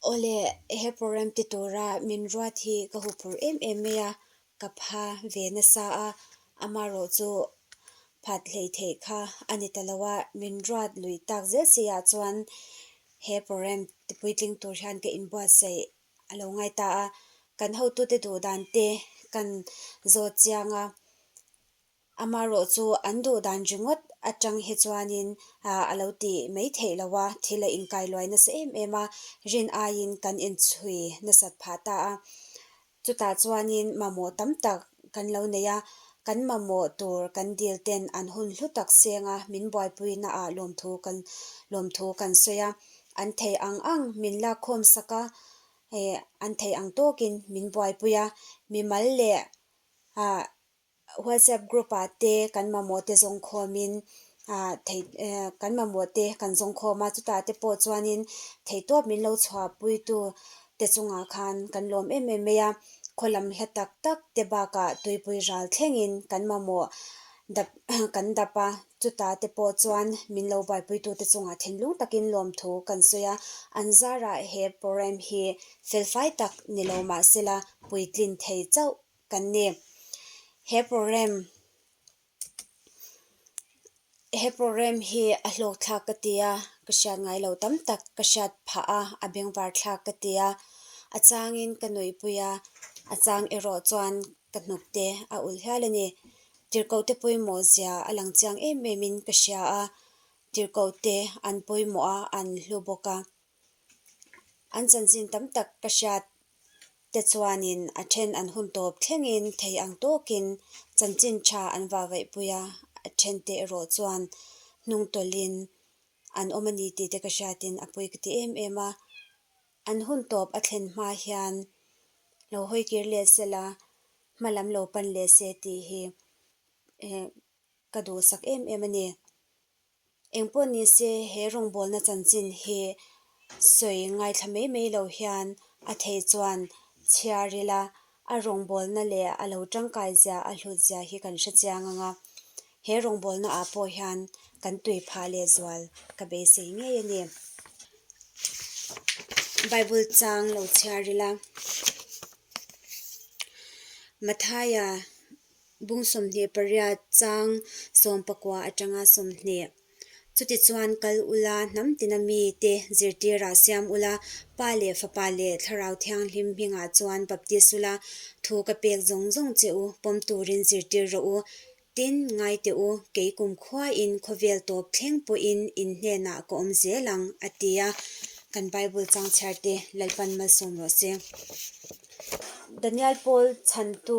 Awle, he program ti tura min ruat hi ka huphur em em mai a, ka pha ve nasa a, amarawh chu phat hlei theih kha a ni ta lo a, min ruat lui tak zel si ah chuan he program ti puitling tur hian ka inbuatsaih a lo ngai ta a, kan hotute duhdan te kan zawt chiang a. Amaherawh chu an duhdan ringawt atang hi chuanin a lo ti mai theih lo a, thil a inkailuai nasa em em a, rin aiin kan inchhui nasat phah ta a, chutah chuanin mamawh tam tak kan lo nei a, kan mamawh tur kan dil ten an hun hlu tak senga min buaipuina ah lawmthu kan lawmthu kan sawi a, an thei ang ang min lakkhawm sak a, an thei ang tawkin min buaipui a, mimal leh ah WhatsApp group ah te kan mamawh te zawng khawm in kan mamawh te kan zawng khawm a chutah te pawh chuan in thei tawp min lo chhuah pui tu te chung ah khan kan lawm em em mai a khaw lam hla tak tak te bak ah tuipui ral thleng in kan mamawh dap kan dap a chutah te pawh chuan min lo buai pui tu te chung ah thinlung tak in lawm thu kan sawi a an zar ah he program hi fel fai tak ni lo mah se la puitlin thei chauh. kan ni. He program he program hi a hlawk thlak ka ti a, ka hriat ngai lo tam tak, ka hriat phah a, a beng var thlak ka ti a, a changin ka nawihpui a, a chang erawh chuan ka hnukte a ulh hial a ni. Tirhkohte pawimawh zia a lang chiang em em in ka hria a, tirhkohte an pawimawh a, an hlu bawk a. An chanchin tam tak ka hriat te chuanin a then an hun tawp thlengin thei ang tawkin chanchin tha an vavaih pui a, a then te erawh chuan hnung tawlhin an awm a ni tih te ka hriatin a pui ka ti em em a, an hun tawp a thlen hma hian lo hawi kir leh se la, hma lam lo pan leh se tih hi ka duh sak em em a ni. Eng pawh ni se, he rawngbawlna chanchin hi sawi ngaithla mai mai lo hian a thei chuan chhiar ila, a rawngbawlna leh a lo tangkai zia, a hlut zia hi kan hrechiang ang a. He rawngbawlnaah pawh hian kan tui phah leh zual ka beisei ngei a ni. Bible chang lo chhiar ila, Mathaia. Bung sawmhnih pariat chang sawm pakua atanga sawmhnih. Chuti chuan kal ula hnam tina mi te zirtirah siam ula Pa leh Fapa leh Thlarau Thianghlim hmingah chuan baptist ula thu ka pek zawng zawng che u, pawm turin zirtir rawh u, tin, ngai teh u, kei kumkhuain khawvel tawp thleng pawhin in hnenah ka awm zel ang, a ti a. Kan Bible changchhiarte Lalpan malsawm rawh se. Danial Pawl chhantu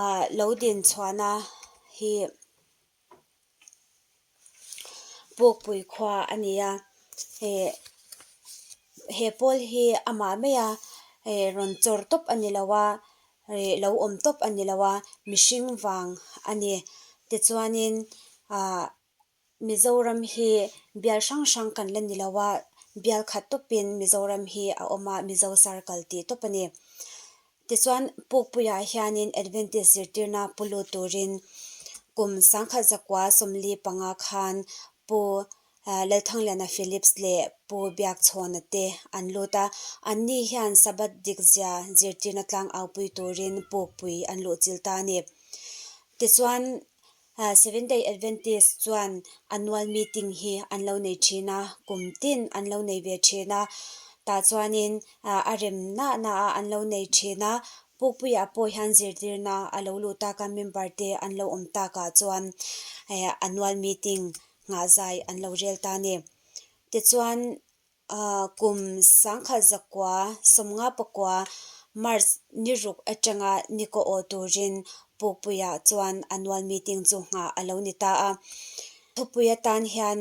ah lo din chhuahna hi pawkpui khua a ni a, eh he Pawl hi amah mai a eh rawn chawr tawp a ni lo a, eh lo awm tawp a ni lo a, mihring vang a ni. Tichuanin ah. Mizoram hi bial hrang hrang kan la ni lo a, bial khat tawpin Mizoram hi a awm a, Mizo sar kal tih tawp a ni. Tichuan Pukpuiah hianin Adventist zirtirna pu lut turin kum sangkhat zakua sawmli panga khan Pu Lalthangliana Phillips leh Pu Biakchhawna te an lut a, anni hian Sabbath dik zia zirtirna tlang aupui turin Pukpui an luhchil ta a ni. Tichuan Seventh Day Adventist chuan a nual meeting hi an lo nei thin a, kum tin an lo nei ve thin a, tah chuanin a rem nah naha an lo nei thin a, Pukpuia pawh hian zirtirna a lo luh tak a, member te an lo awm takah chuan a nual meeting nghah zai an lo rel ta a ni. Tichuan. A kum sangkhat zakua sawmnga pakua March ni ruk atanga ni ko aw turin Pukpuia chuan annual meeting chu ngha a lo ni ta a. Thupui atan hian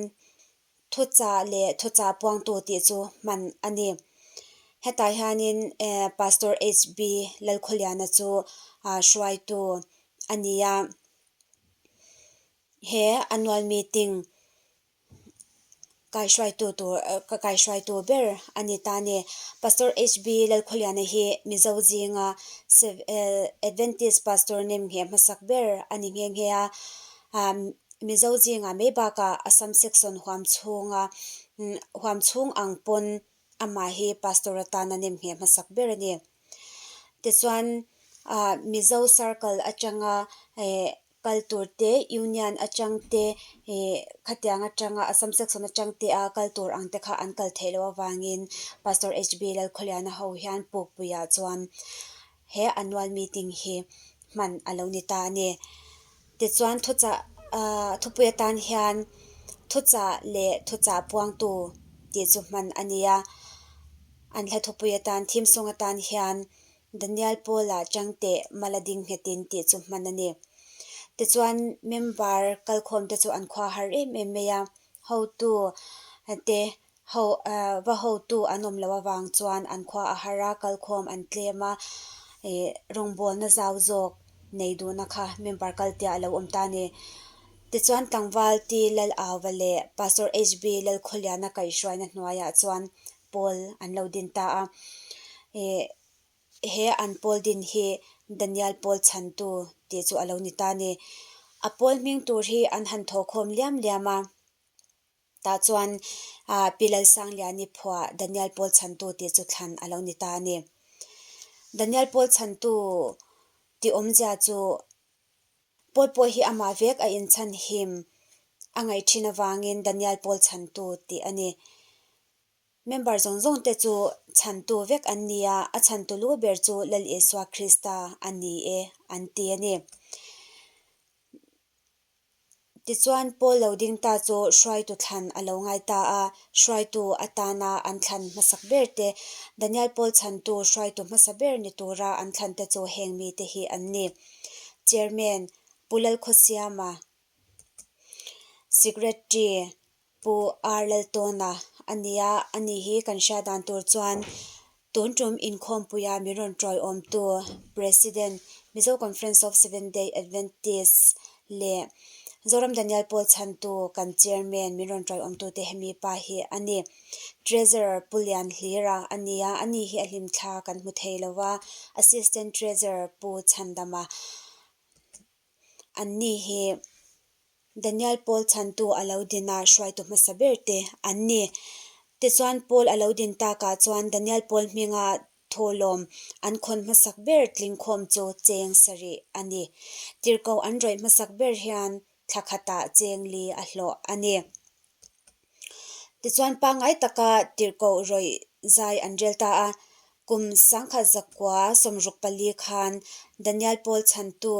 thucha leh thucha puangtu tih chu hman a ni. Hetah hianin Pastor HB Lalkhawliana chu hruaitu a ni a. He annual meeting kaihruaitu tur ka kaihruaitu ber a ni ta ni pastor HB Lalkhawiana hi Mizo zinga Adventist pastor nem nge hmasak ber a ni nghe nghe a ah Mizo zinga mai baka Assam section huam chhunga huam chhung ang pawn amah hi pastor atana nem nge hmasak ber a ni tichuan ah Mizo circle atanga eh. kal tur te union atang te ih khatiang atanga assam section atang te a kal tur ang te kha an kal theih loh avangin pastor HB Lalkhawliana ho hian pukpui ah chuan he annual meeting hi hman a lo ni ta a ni. Tichuan thuchah ah thupui atan hian thuchah leh thuchah puangtu tih chu hman a ni a, an hla thupui atan thim sung atan hian Danial Paula chang teh mal a ding nghetin tih chu hman a ni. Tichuan member kalkhawm te chu an khua har em em mai a, hotu te ho va hotu an awm loh avang chuan an khua a har a, kalkhawm an tlem a, rawngbawlna zau zawk nei duhna kha member kaltiah a lo awm ta a ni. Tichuan tlangval Ti Lal Auva leh Pastor HB Lalkhawliana kaihruaina hnuaiah chuan pawl an lo din ta a, eh he an pawl din hi Daniel pawl chhan tu tih chu a lo ni ta a ni. A pawl hming tur hi an han thaw khawm liam liam a, tah chuan ah Pi Lalsangliah a ni phua Daniel pawl chhan tu tih chu thlan a lo ni ta a ni. Daniel pawl chhan tu ti awm zia chu pawl pawh hi amah vek a in chhan him a ngaih thin avangin Daniel pawl chhan tu tih a ni. Member zawng zawng te chu chhan tu vek an ni a, a chhan tu lu ber chu Lal Isua Krista a ni e an ti a ni. Tichuan Paul lo ding ta chu hruaitu thlan a lo ngai ta a, hruaitu atana an thlan hmasak ber te, Daniel Paul chhan tu hruaitu hmasa ber ni tura an thlan te chu heng mi te hi an ni, Chairman Pu Lalkhawsiama, Secretary Pu Ar Laltawna a nia, a nih hi kan hria dan tur chuan tun tum inkhawmpuia min rawn ṭawihawmtu President Mizo Conference of Seventh Day Adventist leh Zoram Daniel Paul chhantu kan Chairman min rawn ṭawihawmtute hemipa hi a ni. Treasurer Pu Lian Hlira a nia, a nih hi a hlimthla kan hmu thei lo a, Assistant Treasurer Pu Chandama. An ni hi Daniel Paul chhantu a lo din a, hruaitu hmasa ber te an ni. Tichuan Paul a lo din takah chuan Daniel Paul hminga thawhlawm an khawn hmasak ber tling khawm chu cheng sarih a ni. Tirhkoh an rawih hmasak ber hian thlakhatah cheng li a hlawh a ni. Tichuan pangai taka tirhkoh rawih zai an rel ta a. Kum sangkhat zakua sawmruk pali khan Danial Pawl chhantu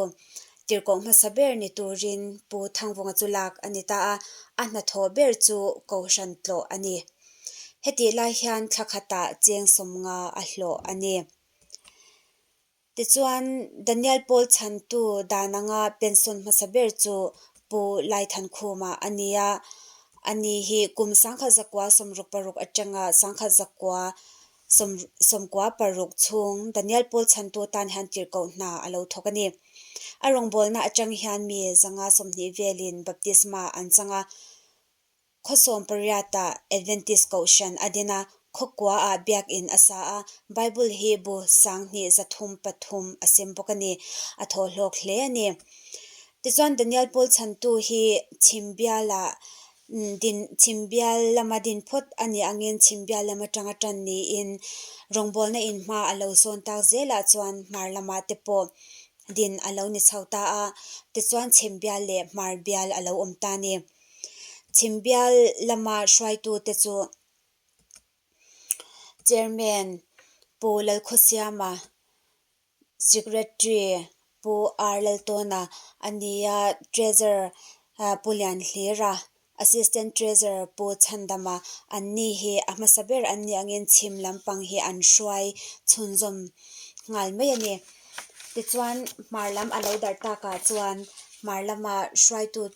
tirhkoh hmasa ber ni turin Pu Thangvunga chu lak a ni ta a, a hna thawh ber chu Kohhran tlawh a ni. Hetihlai hian thlakhatah cheng sawmnga a hlawh a ni. Tichuan, Daniel Pawl chhantu dan anga pension hmasa ber chu Pu Lai Than Khuma a ni a, a ni hi kum sangkhat zakua sawmruk paruk atanga sangkhat zakua sawm sawmkua paruk chhung Daniel Pawl chhantu tan hian tirh koh hna a lo thawk a ni. A rawngbawlna atang hian mi zanga sawmhnih velin baptisma an chang a, Khawsawm pariata Adventist Kohhran a din a, khawkua ah biakinn a sa a, Bible hi bu sanghnih zathum pathum a sim bawk a ni. A thawhlawk hle a ni. Tichuan Daniel Pawl chhantu hi chhim bial ah din, chhim bial lam a din phawt a nih angin chhim bial lam atanga tan niin rawngbawlna in hma a lo zawn tak zel ah chuan hmar lam ah te pawh din a lo ni chho ta a, tichuan chhim bial leh hmar bial a lo awm ta a ni. Chhimbial lama hruaitute chu Chairman Pu Lalkhawsiama, Secretary Pu R Laltawna a ni a, Treasurer Pu Lianhlira, Assistant Treasurer Pu Chhandama an ni hi a hmasa ber an nih angin chhim lampang hi an hruai chhunzawm nghal mai a ni. Tichuan hmar lam a lo darh takah chuan hmar lama hruaitute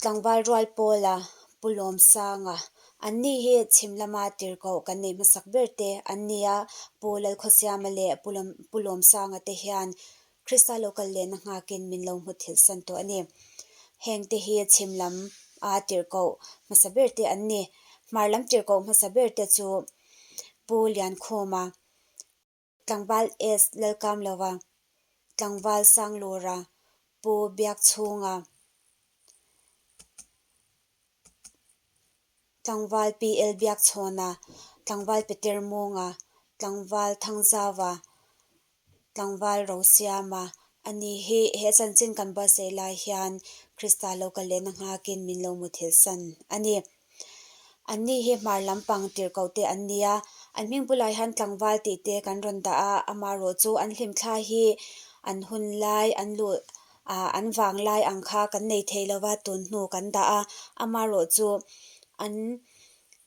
Tlangval rual pawl a pu Lawmsang a, an ni hi chhim lama tir koh kan neih hmasak ber te an ni a, Pu Lalkhawsiama leh Pu Lawmsanga te hian Krista lo kal lehna nghakin min lo hmu thilh san tawh a ni. Heng te hi chhim lam a tir koh hmasa ber te an ni. Hmar lam tir koh hmasa ber te chu Pu Liankhuma, Tlangval East Lalkam lova Tlangval Sanglura Pu Biak Chhunga, Tlangval PL Biak Chhawna, Tlangval Peter Munga, Tlangval Thangzava, Tlangval Rosiama a ni hi he chanchin kan buatsaih lai hian Krista lo kal lehna nghak in min lo mutthilhsan a ni. An ni hi hmar lampang tirhkoh te an ni a, an hming bulah hian tlangval tih te kan rawn dah a, amaherawh chu an hlimthla hi an hun lai, an luh ah an vang lai ang kha kan nei thei lo va, tun hnu kan dah a, amaherawh chu an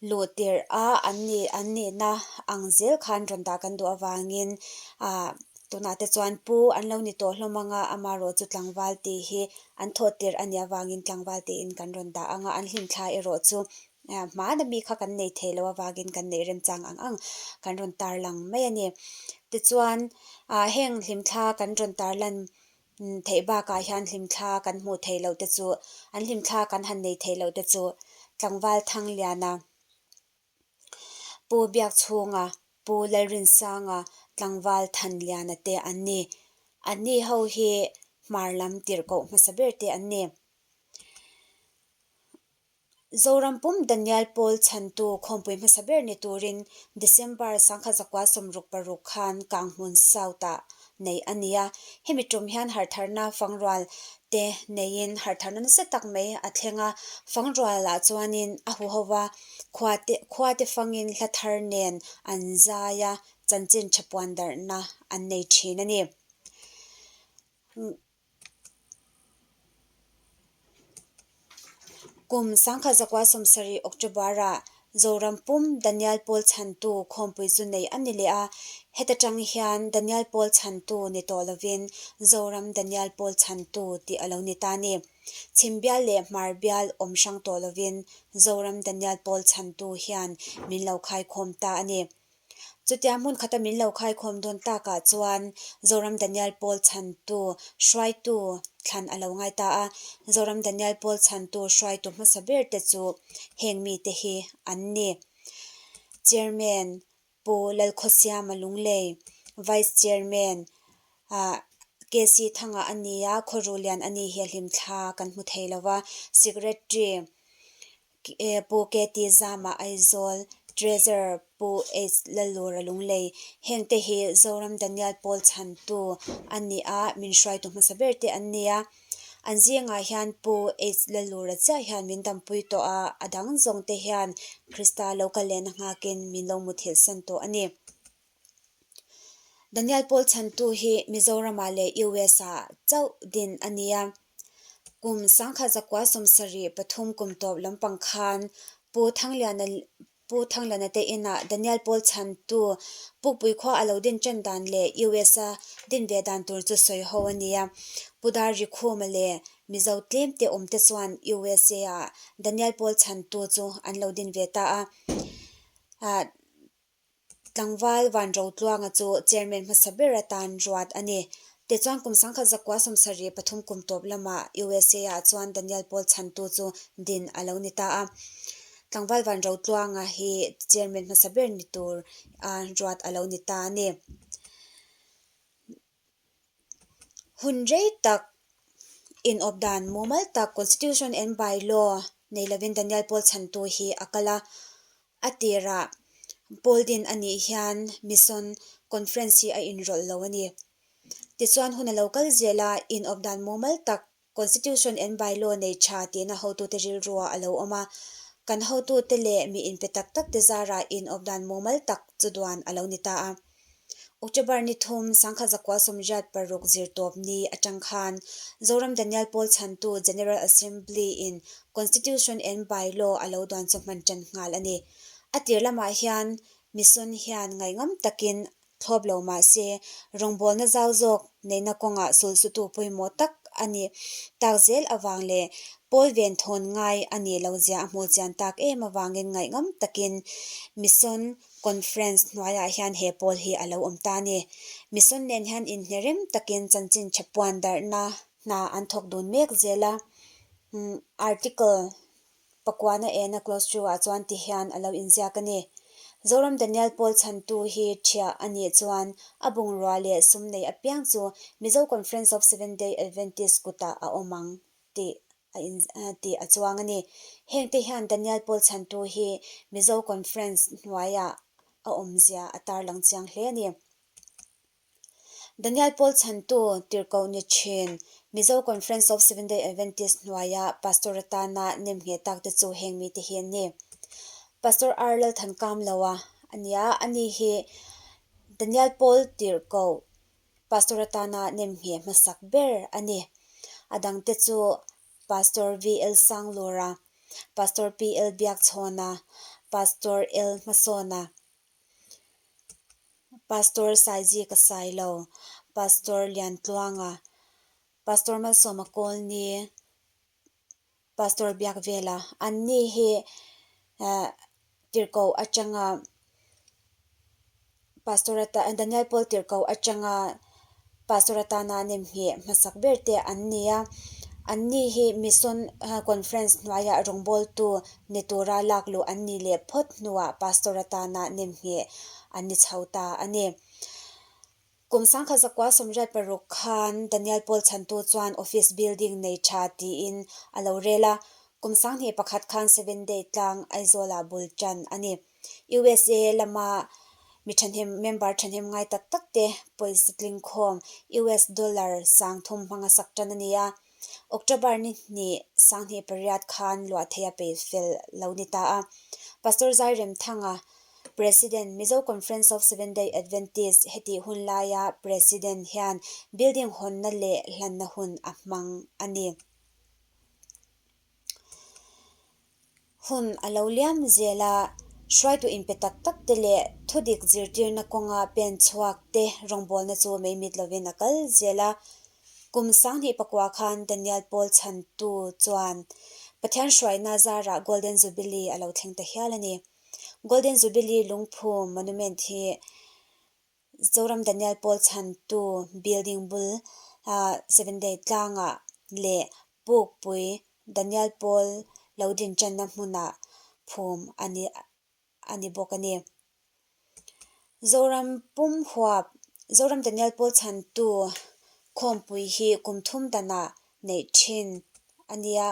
luh tirh a, an ni an nihna ang zel khan rawn dah kan duh avangin ah tunah te chuan pu an lo ni tawh hlawm ang a, amaherawh chu tlangval tih hi an thawt tirh a nih avangin tlangval tein kan rawn dah ang a, an hlimthla erawh chu hmana mi kha kan nei thei loh avangin kan neih remchang ang ang kan rawn tarlang mai a ni. Tichuan heng hlimthla kan rawn tarlan theih bakah hian hlimthla kan hmuh theih lohte chu, an hlimthla kan han nei theih lohte chu tlangval thangliana Pu Biakchhunga, Pu Lalrinsanga, Tlangval Thanliana te an ni. An ni ho hi hmar lam tirh koh hmasa ber te an ni. Zorampum Danial Pawl chhantu khawmpui hmasa ber ni turin December sangkhat zakua sawmruk paruk khan Kanghmun South ah neih a ni a. Hemi ṭum hian harhtharna fangrual te neiin harhtharna nasa tak mai a thleng a. Fangrualah chuanin a hu ho va, khua te khua te fangin hla thar nen an zai a, chanchin ṭha puan darhna an nei ṭhin a ni. Kum sangkhat zakua sawmsarih, October, ah Zoram pum Danial Pawl chhantu khawmpui chu nei a ni leh a, heta tang hian Danial Pawl chhantu ni tawh lovin Zoram Danial Pawl chhantu tih a lo ni ta ni. Chhim bial leh hmar bial awm hrang tawh lovin Zoram Danial Pawl chhantu hian min lo khai khawm ta a ni. Chutia hmun khata min lo khaikhawm dawn takah chuan Zoram Daniel Paul chhantu hruaitu thlan a lo ngai ta a. Zoram Daniel Paul chhantu hruaitu hmasa ber te chu heng mite hi an ni, Chairman Pu Lalkhawsiama Lunglei, Vice Chairman KC Thanga a ni a, Khaw Rulian a ni hia hlim thla kan hmu thei lo va, Secretary, Pu Kety Zama Aizawl, Treasure Pu H Lalura Lunglei, heng te hi Zoram Daniel Paul chhan tu an ni a, min hruai tu hmasa ber te an ni a, an zingah hian Pu H Lalura chiah hian min dampui tawh a, a dang zawng te hian Krista lo kal lehna nghak in min lo muthilhsan tawh a ni. Danial Pawl chhantu hi Mizorama leh US a chauh din a ni a. Kum sangkhat zakua sawmsarih pathum kum tawp lampang khan Pu Thangliana Pu Thangliana te in ah Danial Pawl chhantu pukpui khua a lo din chen dan leh US a din ve dan tur chu sawi ho a ni a. Pu Dar Rikhuma leh Mizo tlem te awm te chuan US a ah Danial Pawl chhantu chu an lo din ve ta a. Tlangval Vanrotluanga chu Chairman hmasa ber atan ruat a ni. Te chuan kum sangkhat zakua sawmsarih pathum kum tawp lamah USA-ah chuan Daniel Paul chhantu chu din a lo ni ta a. Tlangval Vanrotluanga hi Chairman hmasa ber ni tur ruat a lo ni ta a ni. hun rei tak inawp dan mumal tak constitution and by law nei lovin Daniel Paul chhan tu hi a kal a, a tirah Paul din a nih hian mission conference hi a inrawlh lo a ni. Tichuan hun a lo kal zel a inawp dan mumal tak Constitution and By Law nei tha tihna hotute rilrua a lo awm a, kan hotute leh mi inpe tak tak te zara inawp dan mumal tak chuduan a lo ni ta a. October ni thum, Sangkhat Zakua Sawmriat paruk zirtawp ni atang khan, Zoram Danial Pawl chhantu General Assembly in Constitution and By Law a lo duan chawhman ṭan nghal a ni. A tir lamah hian Mission hian ngaihngamtakin thlawp lo mahse, rawngbawlna zau zawk neihna kawngah sulsutu pawimawh tak a nih tak zel avang leh Paul ven thawn ngai a nih lo zia a hmuh chian tak em avangin ngaih ngam takin Mission Conference hnuaiah hian he Paul hi a lo awm ta a ni. Mission nen hian inhne rem takin chanchin tha puan darhna hna an thawk dun mek zel a, Article Pakuana ehna close chu ah chuan ti hian a lo in ziak a ni. Zoram Daniel Paul chhan tu hi thia a nih chuan a bungrua leh sum nei apiang chu Mizo Conference of Seventh Day Adventist kut ah a awm ang tih a in tih a chuang a ni. Heng te hian Daniel Paul chhan tu hi Mizo Conference hnuai ah a awm zia a tarlang chiang hle a ni. Danial Paul chhantu tirhkoh ni thin Mizo Conference of Seventh Day Adventist hnuaia Pastor atana nem ngheh tak te chu heng mite hi an ni. Pastor Ar Lalthankam Loa a nia, ani hi Danial Paul tirhkoh Pastor atana nem ngheh hmasak ber a ni. A dang te chu Pastor VL Sanglura, Pastor PL Biakchhawna, Pastor L Hmasawna. Pastor Saiji ka sai lo, Pastor Liantluanga, Pastor Malsawma Colony, Pastor Biakvela an ni hi Tirhkoh atanga Pastor ata Daniel Paul Tirhkoh atanga Pastor atana nem hi hmasak ber te an ni a, anni hi Mission Conference hnuaia rawngbawltu ni tura lak luh an nih leh phawt hnuah Pastor atana nem hi an ni chho ta a ni. Kum sangkhat zakua sawmriat paruk khan Daniel Paul chhantu chuan office building nei tha tiin a lo rel a, kum sanghnih pakhat khan Seventh Day tlang Aizawla bul tan a ni. usa lama mi thahnem member thahnem ngai tak tak te policy tlingkhawm US dollar sang thum hmanga sak tan a ni a, October ni hnih sang hnih pariat khan luah theih a peih fel lo ni ta a. Pastor Zairemthanga President Mizo Conference of Seventh-day Adventist heti hun laia President hian building hawnna leh hlanna hun a hmang a ni. Hun a lo liam zel a, hruaitu inpe tak tak te leh thudik zirtirna kawnga pen chhuak te rawngbawlna chu meimit lovin a kal zel a. Kum sanghnih pakua khan Daniel Paul Chhantu chuan Pathian hruaina zarah Golden Jubilee a lo thleng ta hial a ni. Golden Jubilee lungphum monument hi Zoram Daniel Paul chhantu building bul ah seven day tlang ah leh Pukpui Daniel Paul lo din tan na hmun ah phum a ni bawk a ni. Zoram pum huap Zoram Daniel Paul chhantu khawmpui hi kum thum dan ah neih thin a nia.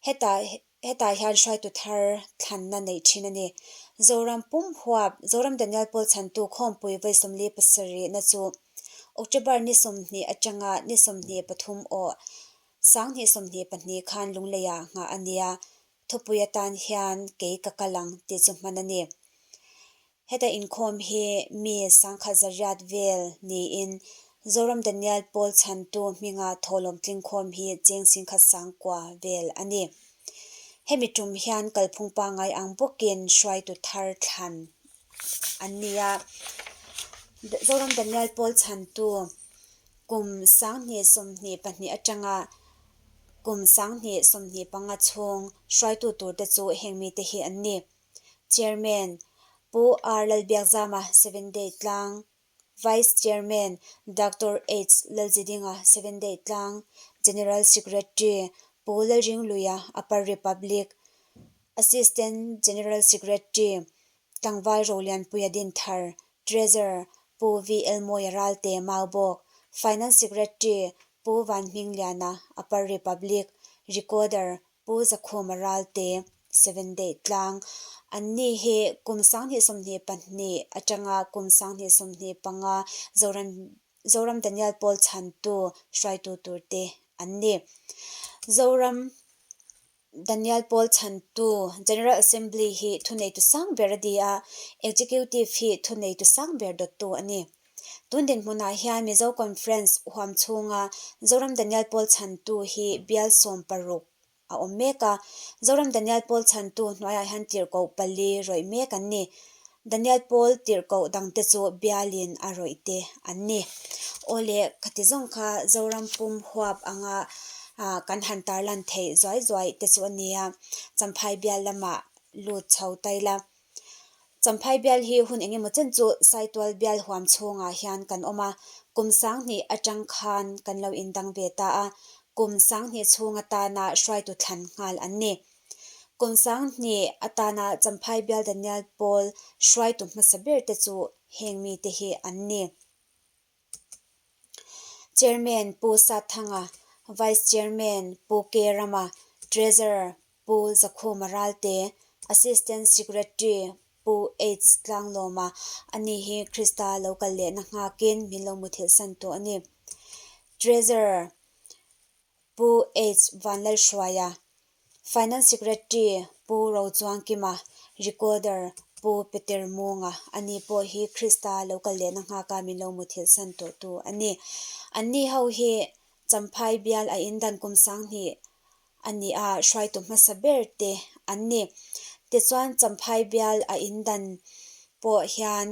Heta Hetah hian hruaitu thar thlanna neih thin a ni. Zoram pum huap, Zoram Daniel Paul chhantu Khawmpui Vaisawmli pasarihna chu October ni sawmhnih atanga ni sawmhnih pathum aw sanghnih sawmhnih pahnih khan lungleiah nghah a nia. Thupui atan hian kei ka kal ang tih chu hman a ni. Heta inkhawm hi mi sangkhat zariat vel niin Zoram Daniel Paul chhantu hminga thawhlawm tlingkhawm hi cheng singkhat sangkua vel a ni. Hemi tum hian kalphung pangngai ang bawkin hruaitu thar thlan an ni a. Zoram Daniel Paul chhantu kum sanghnih sawmhnih pahnih atanga kum sanghnih sawmhnih panga chhung hruaitu tur te chu hengmite hi an ni. Chairman, Pu R Lalbiakzama, Seven Day Tlang, Vice Chairman, Doctor H Lalzidinga, Seven Day Tlang, General Secretary, Pu Lalringluia, Upper Republic, Assistant General Secretary, Tlangval Rolianpuia Dinthar, Treasurer, Pu V Elmawia Ralte, Maubawk, Finance Secretary, Pu Vanhmingliana, Upper Republic, Recorder, Pu Zakhawma Ralte, Seven Day Tlang, an ni hi kum sanghnih sawmhnih pahnih atanga kum sanghnih sawmhnih panga Zoram Zoram Daniel Paul chhantu hruaitu tur te an ni. Zoram Daniel Paul chhantu General Assembly hi thuneitu sang ber a ni a, Executive hi thuneitu sang ber dawttu a ni. Tun dinhmunah hian Mizo Conference huam chhunga Zoram Daniel Pawl chhantu hi bial sawm paruk a awm mek a, Zoram Daniel Pawl chhantu hnuaiah hian tirhkoh pali rawih mek an ni. Daniel Pawl tirhkoh dangte chu bialin a rawih te an ni. Aw le, ka ti zawng kha Zoram pum huap anga kan han tarlan theih zuai zuai te chu a nia, Champhai bial lamah lut chho ta ila, Champhai bial hi hun engemaw chen chu Saitual bial huam chhungah hian kan awm a, kum sanghnih atang khan kan lo indang ve ta a, kum sanghnih chhung atana hruaitu thlan nghal an ni. Kum sanghnih atana Champhai bial Daniel Pawl hruaitu hmasa berte chu heng mite hi an ni. Chairman Pu Sathanga, Vice Chairman Pu Kerama, Treasurer Pu Zakhuma Ralte, Assistant Secretary Pu H Tlanglawma ani hi Krista lo kal lehna nghak in min lo muthilhsan tawh a ni. Treasurer. Pu H Vanlalhruaia, Finance Secretary Pu Rochuangkima, Recorder Pu Peter Munga an nih pawh hi Krista lo kal lehna nghaka min lo mu thil san tawhtu an ni. An ni ho hi Champhai bial a indan kum sanghnih a nih a hruaitu hmasa ber te an ni. Tichuan Champhai bial a indan pawh hian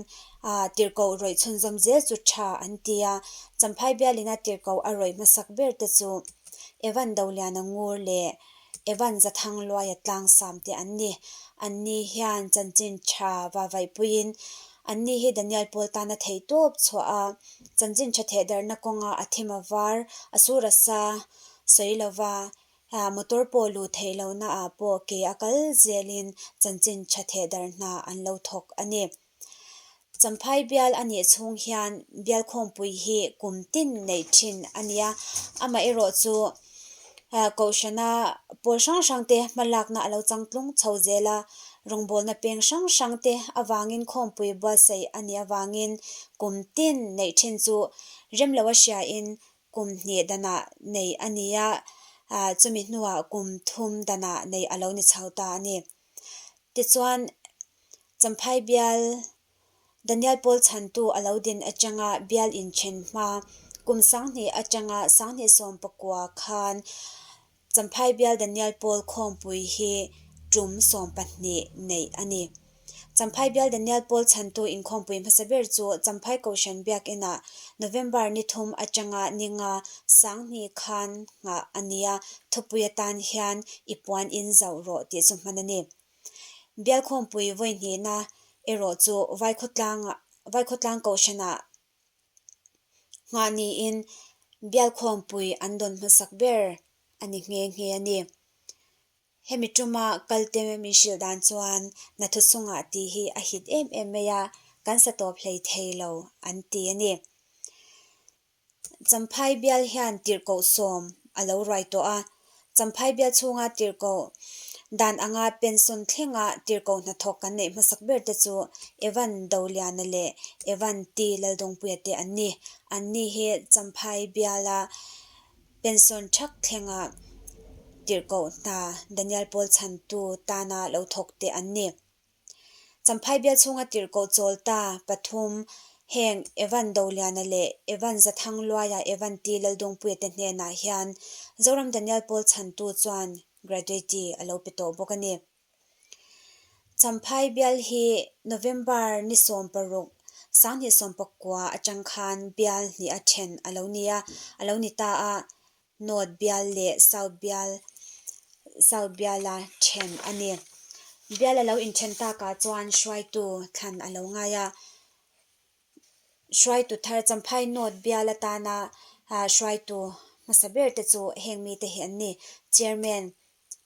tirhkoh rawih chhunzawm zel chu tha an ti a, Champhai Bialina tirhkoh a rawih hmasak ber te chu Evan Doliana ngur leh Evan Zathangluaia tlangsam te an ni. An ni hian chanchin tha vavaipuiin an ni hi Daniel Paul tana thei tawp chhuah a, chanchin tha thehdarhna kawnga a thim a var, a sur a sa sawi lova Aa, motor pawh luh theih lohna ah pawh ke a kal zel in chanchin tha theh darh hna an lo thawk a ni. Champhai bial a nih chung hian bial khawngpui hi kum tin neih thin a nia. Amah erawh chu Kohhrana pawl hrang hrang te hma lakna a lo chang tlung chho zel a, rawngbawlna peng hrang hrang te avang in khawngpui bualsaih a nih avang in kum tin neih thin chu rem lo a hria in kum hnih danah neih a ni a, chumi hnuah kum thum danah neih a lo ni chho ta a ni. Tichuan, Champhai bial Daniel Pawl chhantu a lo din atanga bial inthen hma kum sanghnih atanga sanghnih sawm pakua khan Champhai Bial Danial Pawl Khawngpui hi tum sawm pahnih neih a ni. Champhai Bial Danial Pawl chhantu in Khawngpui hmasa ber chu Champhai Kohhran Biakinn ah November ni thum atanga ni nga sang hni khan nghah a nia thupui atan hian i puan in zauh rawh tih chu hman a ni. Bial Khawngpui vawihnihna erawh chu Vaikhawtlang Vaikhawtlang Kohhran ah nghah niin bialkhawmpui an dawn hmasak ber a ni nghe nghe a ni. Hemi tuma kalte min hrilh dan chuan nathu chunga ti hi a hit em em mai a, kan sa tawp hlei thei lo an ti a ni. Champhai bial hian tirhkoh sawm a lo ruai tawh a, Champhai bial chhunga tir ko dan anga pension thlenga tir ko hnathawk kan neih hmasak ber te chu Evan Doliana leh Evan T Laldawngpuia te an ni. An ni hi Champhai biala pension thak thlenga tir ko hna Danial Paul chhantu tana lo thawk te an ni. Champhai bial chhunga tirhkoh chawl ta pathum heng Evan Doliana leh Evan Zathangluaia Evan Ti Lalduangpuia te hnenah hian Zoram Daniel Paul chhantu chuan Graduate a lo pe tawh bawk a ni. Champhai bial hi November ni sawm paruk sanghnih sawm pakua atang khan bial hnih a then a lo ni a, a lo ni ta a. North bial leh South bial South bial a then a ni. Bial a lo inthen takah chuan hruaitu thlan a lo ngai a. Hruaitu thar Champhai North bial atana hruaitu hmasa ber te chu heng mite hi an ni, Chairman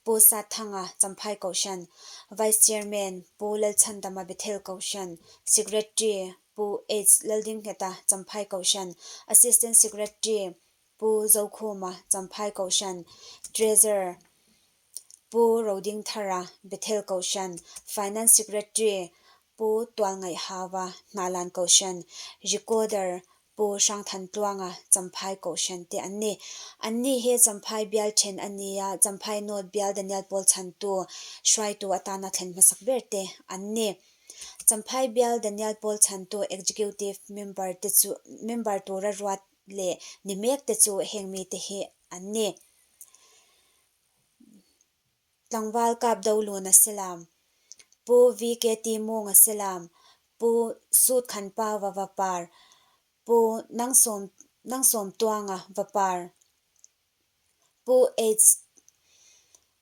Pu Sathanga Champhai Kohhran, Vice Chairman Pu Lalchandama Bethel Kohhran, Secretary Pu H Laldinghneta Champhai Kohhran, Assistant Secretary Pu Zokhuma Champhai Kohhran, Treasurer, Pu Roding Thara Bethel Kohhran, Finance Secretary, Pu Tualngaih Hava Hnahlan Kohhran, Recorder, Pu Hrangthantluanga Champhai Kohhran te an ni. An ni hi Champhai bial then a ni a, Champhai note bial Daniel Pawl chhantu, hruaitu atana thlen hmasak ber te an ni. Champhai bial Daniel Pawl chhantu executive member te chu member tura ruat leh ni mek te chu heng mi te hi an ni. Tlangval kap do lun a si lam, Pu VK Ti Mung a si lam, Pu Sut Khan Pau a va par, Pu Nang Sawm Nang Sawm Tuang a va par, Pu H.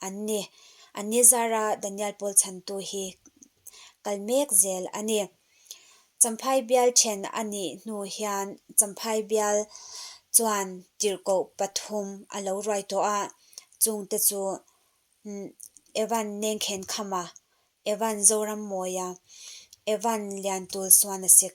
an ni. An ni zara Daniel Pawl chhantu hi kal mek zel a ni. Champhai bial then a nih hnu hian Champhai bial chuan tirhkoh pathum a lo ruai tawh a, chungte chu Evan Nengkhenkhamah, Evan Zorammawiah, Evan Liantulsuana sik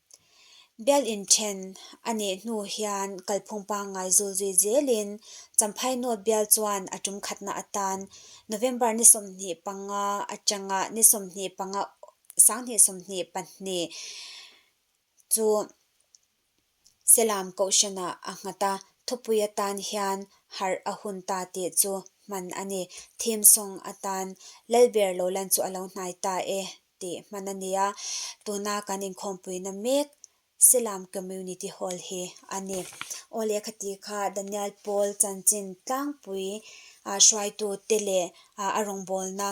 Bialin then a nih hnu hian kalphung pangngai zul zui zelin Champhainawt bial chuan a tum khatna atan November ni sawmhnih panga atanga ni sawmhnih panga sanghnih sawmhnih pahnih chu Selam Kohhranah a nghat a, thupui atan hian harh a hun ta tih chu hman a ni. Theme song atan Lalber lo lan chu a lo hnai ta e tih hman a ni a, tuna kan inkhawmpuina mek Silam Community Hall hi a ni. Aw lehkha ti kha Danial Paul chanchin tlangpui hruaitute leh a rawngbawlna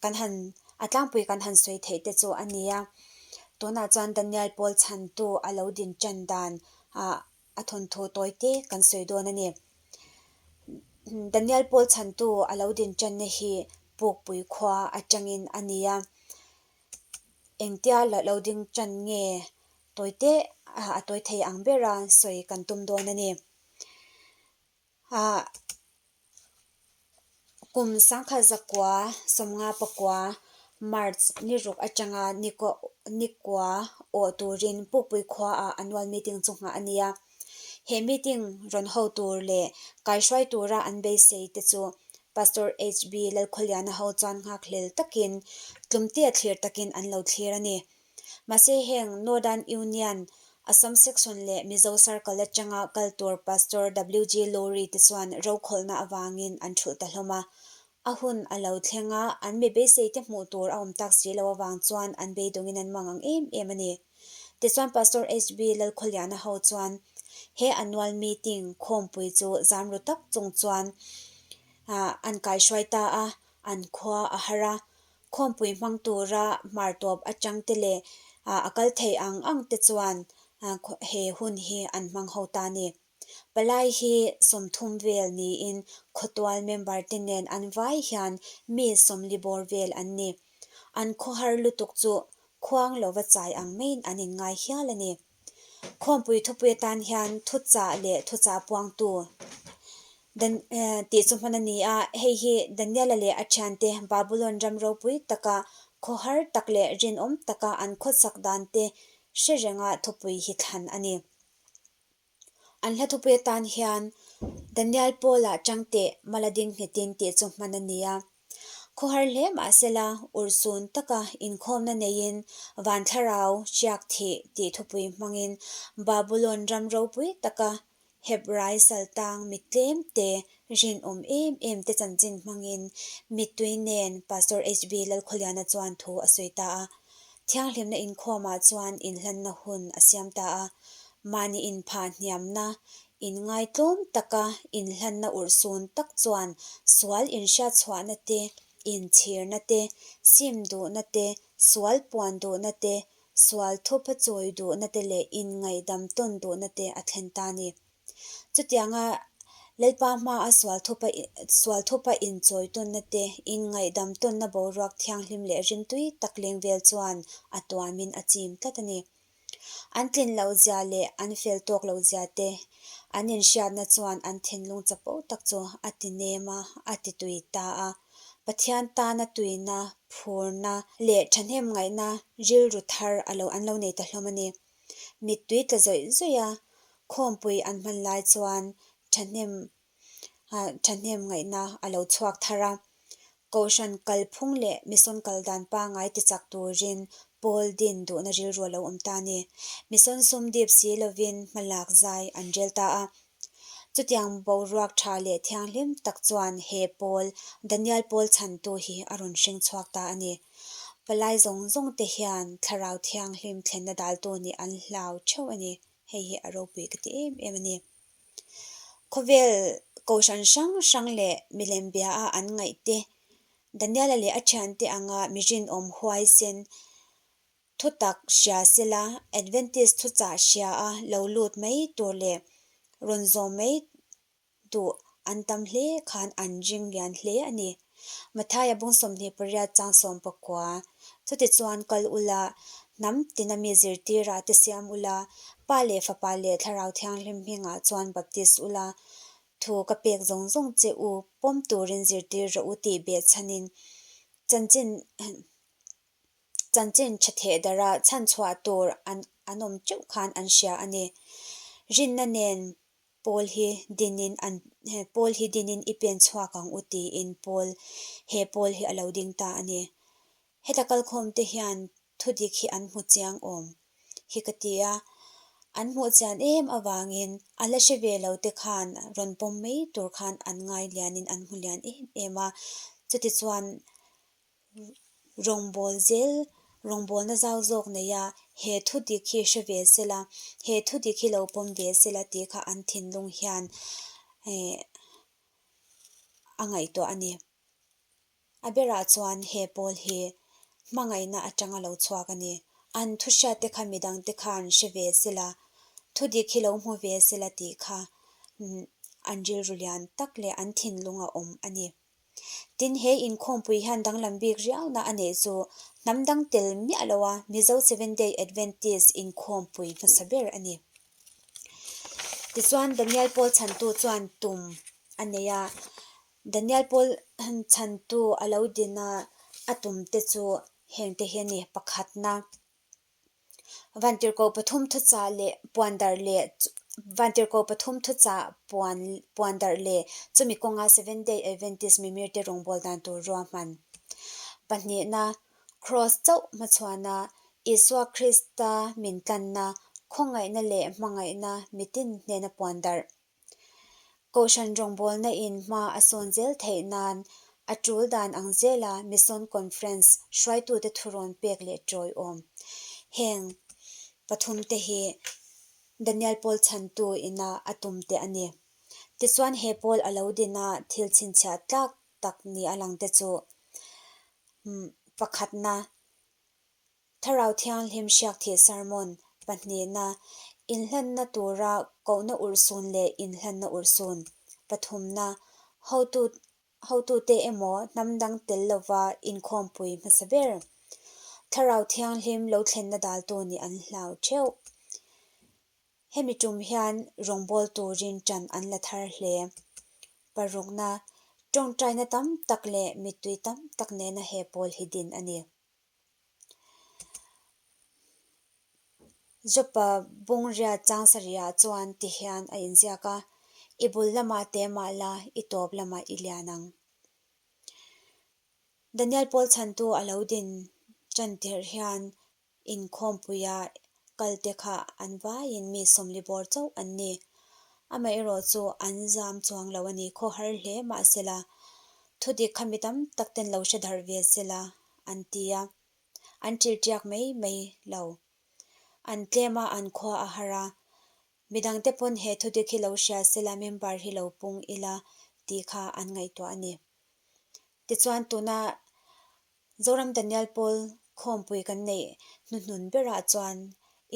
kan han a tlangpui kan han sawi theih te chu a ni a, tunah chuan Danial Paul chhantu a lo din tan dan a. a thawnthaw tawi te kan sawi dawn a ni. Danial Pawl chhantu a lo din channa hi Pukpui khua atangin a ni a, engtia lo ding chan nge tawi te a tawi thei ang bera sawi kan tum dawn a ni. a kum sangkhat zakua sawmnga pakua March ni ruk atanga nihkua awh turin Pukpui khuaah a nual meeting chu nghah a ni a, he meeting rawn ho tur leh kaihruai tura an beisei te chu Pastor HB Lalkhawliana ho chuan nghakhlel takin tlumtea thlir takin an lo thlir a ni. Mahse heng Northern Union Assam Section leh Mizo Circle atanga kal tur Pastor WG Lawrie te chuan rokhawlna avangin an thulh ta hlawm a, a hun a lo thleng a, an be beisei te hmuh tur a awm tak si lo avang chuan an beidawngin an mang ang em em a ni. Tichuan Pastor HB Lalkhawliana ho chuan he annual meeting khawmpui chu zam ru tak chung chuan an kaihruai ta a, an khua a har a, Khawmpui hmang tura hmar tawp atang te leh a kal thei ang ang te chuan he hun hi an hmang ho ta ni. Palai hi sawmthum vel niin khawtual member te nen an vai hian mi sawmli bawr vel an ni. An khawhar lutuk chu khuang lova chai ang maiin an inngai hial a ni. Khawmpui thupui atan hian thuchah leh thuchah puangtu tih chu hman a ni a, hei hi Daniela leh a thiante Babulon ram ropui taka khawhar tak leh rinawm taka an khawchak dante hre renga thupui hi thlan a ni. An hla thupui atan hian Daniel Paula changte mala ding hnitin tih chu hman a ni a. Khawhar hle mahsela ursun taka inkhawmna neiin Vanthlarau chiak thih tih thupui hmangin Babulon ram ropui taka Hebrai saltang mittlem te, rinawm em em te chanchin hmangin mittui nen Pastor HB Lalkhawliana chuan thu a sawi ta a. Thianghlimna inkhawmah chuan inhlanna hun a siam ta a, mahni inphah hniamna In ngai tlawm taka in hlanna urh sun tak chuan sual in hriat chhuahna te, in chhirna te, sim duhna te, sual puan duhna te, sual thupa chawi duhna te leh in ngaihdam tawn duhna te a thlen ta ni. Chutianga Lalpa hma a sual thupa sual thupa in chawi tawnna te, in ngaihdam tawnna boruak thianghlim leh rimtui tak leng vel chuan a tuamin a chim tlat a ni. An tlin loh zia leh an fel tawk loh zia te an inhriatna chuan an thinlung chapo tak chu a ti nem a, a ti tui ta a. Pathian tana tuina, phurna leh thahnem ngaihna rilru thar a lo an lo nei ta hlawm a ni. Mittui tla zawih zawih a khawmpui an hman lai chuan thahnem thahnem ngaihna a lo chhuak thar a, Kohhran kalphung leh Mission kal dan pangai tichak turin Paul din duhna rilru a lo awm ta a ni. Mission sum dip si lovin hmalak zai an rel ta a. Chutiang boruak tha leh thianghlim tak chuan he Paul, Daniel Paul chhantu hi a rawn hring chhuak ta a ni. Palai zawng zawng te hian thlarau thianghlim thlenna daltu nih an hlau theuh a ni. Hei hi a ropuih ka ti em em a ni. Khawvel kohhran hrang hrang leh milembiaha an ngaih te, Daniela leh a thiante anga mirin awm huaisen, thutak hria sela, Adventist thuchah hriaa lo lut mai tur leh rawn zawm mai duh an tam hle khan an ring lian hle a ni. Mathaia bung sawmhnih pariat chang sawm pakua. Chuti chuan kal ula, hnam tina mi zirtira te siam ula, Pa leh Fapa leh Thlarau Thianghlim hmingah chuan baptist ula, thu ka pek zawng zawng che u, pawm turin zirtir rawh u tih beh chhanin chanchin chanchin tha theh darha chhan chhuah tur an an awm teuh khan an hria a ni. Rinna nen Paul hi dinin an Paul hi dinin i pen chhuak ang u tiin Paul he Paul hi a lo ding ta a ni. Heta kalkhawmte hian thu dik hi an hmu chiang awm hi ka ti a, an hmuh chian em avangin a la hre ve lo te khan rawn pawm mai tur khan an ngai lianin an hmu lian em em a, chutichuan rawngbâwl zêl rawngbâwlna zau zâwk neia he thudik hi hre ve se la, he thudik hi lo pawm ve se la tih kha an thinlung hian ehh a ngaihtuah a ni. A berah chuan he pâwl hi hmangaihna aṭanga lo chhuak a ni. An thuhriatte kha mi dangte khan hre ve se la, thudik hi lo hmu ve se la tih kha an rilru lian tak leh an thinlunga awm a ni. Tin, he inkhawmpui hian danglam bik riauna a neih chu hnam dang tel miah loha Mizo Seventh Day Adventist inkhawmpui hmasa ber a ni. Tichuan, Daniel Pawl chhantu chuan tum a nei a. Daniel Pawl chhantu a lo din a a tum te chu hengte hi a ni, pakhatna, Vantirhko pathum thucha leh puan darh le Vantirhko pathum thucha puan puan darh le chumi kawnga Seventh Day Adventist mimir te rawngbawl dan tur ruahman pahnihna Kraws chauh hmachhuana Isua Krista min tlanna khawngaihna leh hmangaihna mitin hnena puan darh Kohhran rawngbawlna in hma a sawn zel theih nan a tul dan ang zel a Mission Conference hruaitute thu rawn pek leh tawiawm. Heng pathum te hi Daniel Paul chhantu ina a tum te a ni. Tichuan he Paul a lo din a thil chhinchhiah tlak tak ni a lang te chu pakhatna Thlarau Thianghlim Hriakthih Sermon pahnihna, Inhlanna tura Kohna Urhsun leh Inhlanna Urhsun, Pathumna, Hotu hotute emaw hnam dang tel lova inkhawmpui hmasa ber Thlarau Thianghlim lo thlenna daltu nih an hlau theuh. Hemi tum hian rawngbâwl turin ṭan an la thar hle. Parukna, Ṭawngṭaina tam tak leh mittui tam tak nena he pawl hi din a ni. Jopa bungraw changsarihah chuan ti hian a inziak a, I bul lamah te mah la, i tawp lamah i lian ang. Daniel Pawl chhantu a lo din ṭan tirh hian inkhawmpuia kalte kha an vaiin mi sawmli bawr chauh an ni. Amaherawh chu an zam chuang lo a ni khawhar hle mahsela, thudik khami tam takten lo hre darh ve sela an ti a, an ṭilṭiak mai mai lo. An tlem a, an khua a har a. Midang te pawn he thudik hi lo hria se la, member hi lo pung ila tih kha an ngaihtuah a ni. Tichuan tuna Zoram Daniel Paul khawmpui kan neih hnuhnun berah chuan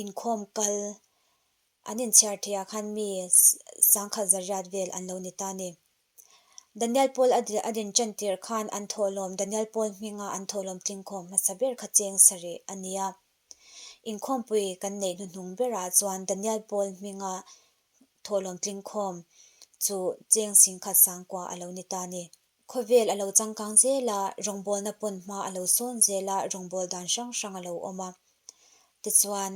inkhawm kal an inchhiar theih ah khan mi sangkhat zariat vel an lo ni ta a ni. Danial Paul a din chan tirh khan an thawhlawm Danial Paul hminga an thawhlawm tlingkhawm hmasa ber kha cheng sa rih a nia. Inkhawmpui kan neih hnuhnung berah chuan Danial Paul hminga thawhlawm tlingkhawm chu cheng sin khat sangkua a lo ni ta ni. Khawvel a lo changkang zel a, rawngbawlna pawn hma a lo sawn zel a, rawngbawlh dan hrang hrang a lo awm a. Tichuan,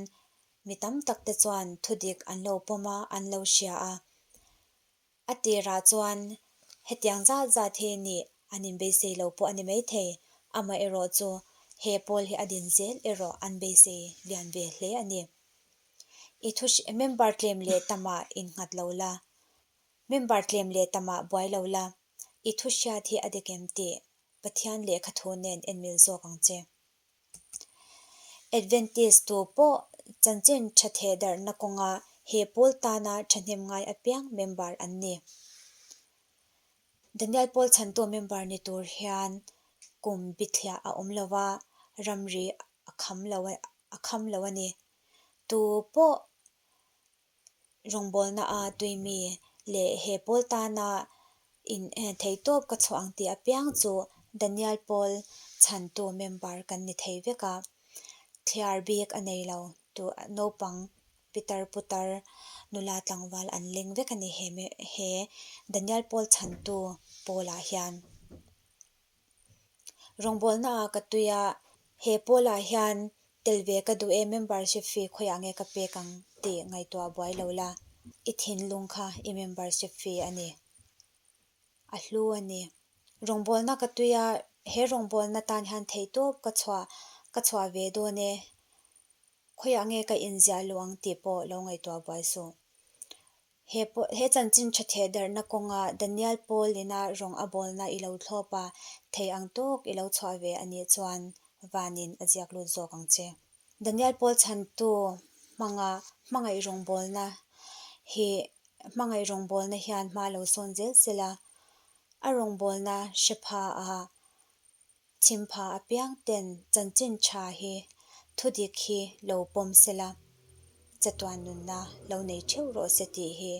mi tam tak te chuan thudik an lo pawm a, an lo hria a. A tirah chuan hetiang zat zat hi nih an inbeisei lo pawh a ni maithei. Amaherawh chu he pawl hi a din zel erawh an beisei lian ve hle a ni. I thu member tlem leh tamah in nghat lo la, member tlem leh tamah buai lo la, i thuhriat hi a de kem tih? Pathian leh kha thu nen enmil zawk ang che. Adventist tu pawh chanchin tha theh darhna kawnga he Paul tana thahnem ngai apiang member an ni. Daniel Paul chantu member ni tur hian kum bithliah a awm lova ramri a kham lo a ni. Tu pawh rawngbawlna a tui mi leh he pawl tana in thei tawp ka chhuah ang tih apiang chu Danial pawl chhantu member kan ni thei vek a, thliar bik a nei lo tih naupang pitar putar nula tlangval an leng vek a ni he Danial pawl chhantu pawlah hian. Rawngbawlna ah ka tui a, he Paul ah hian tel ve ka duh e, membership fee khawiah nge ka pek ang tih ngaihtuah a buai lo la, i thinlung kha i membership fee a ni. A hlu a ni. Rawngbawlna ka tui a, he rawngbawlna tan hian theih tawp ka chhuah, ka chhuah ve dawn e, khawiah nge ka inziah luh ang tih pawh lo ngaihtuah a buai suh. He pawh, he chanchin tha theh darhna kawnga Danial Paul ina rawng a bawlna i lo thlawpa thei ang tawk i lo chhuah ve a nih chuan vanin a ziak lut zawk ang che. Danial Paul chhantu hmanga hmangaih rawng bawlna hi hmangaih rawng bawlna hian hma lo sawn zel zel a, a rawng bawlna hre pha a Chhim pha apiang ten chanchin tha hi thu dik hi lo pawm se la, chatuan nunna lo nei theuh rawh se tih hi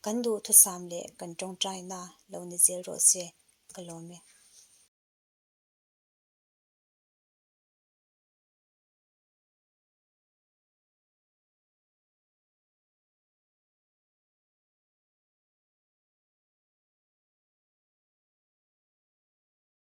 kan duhthusam leh kan tawngtaina lo ni zel rawh se ka lawm e.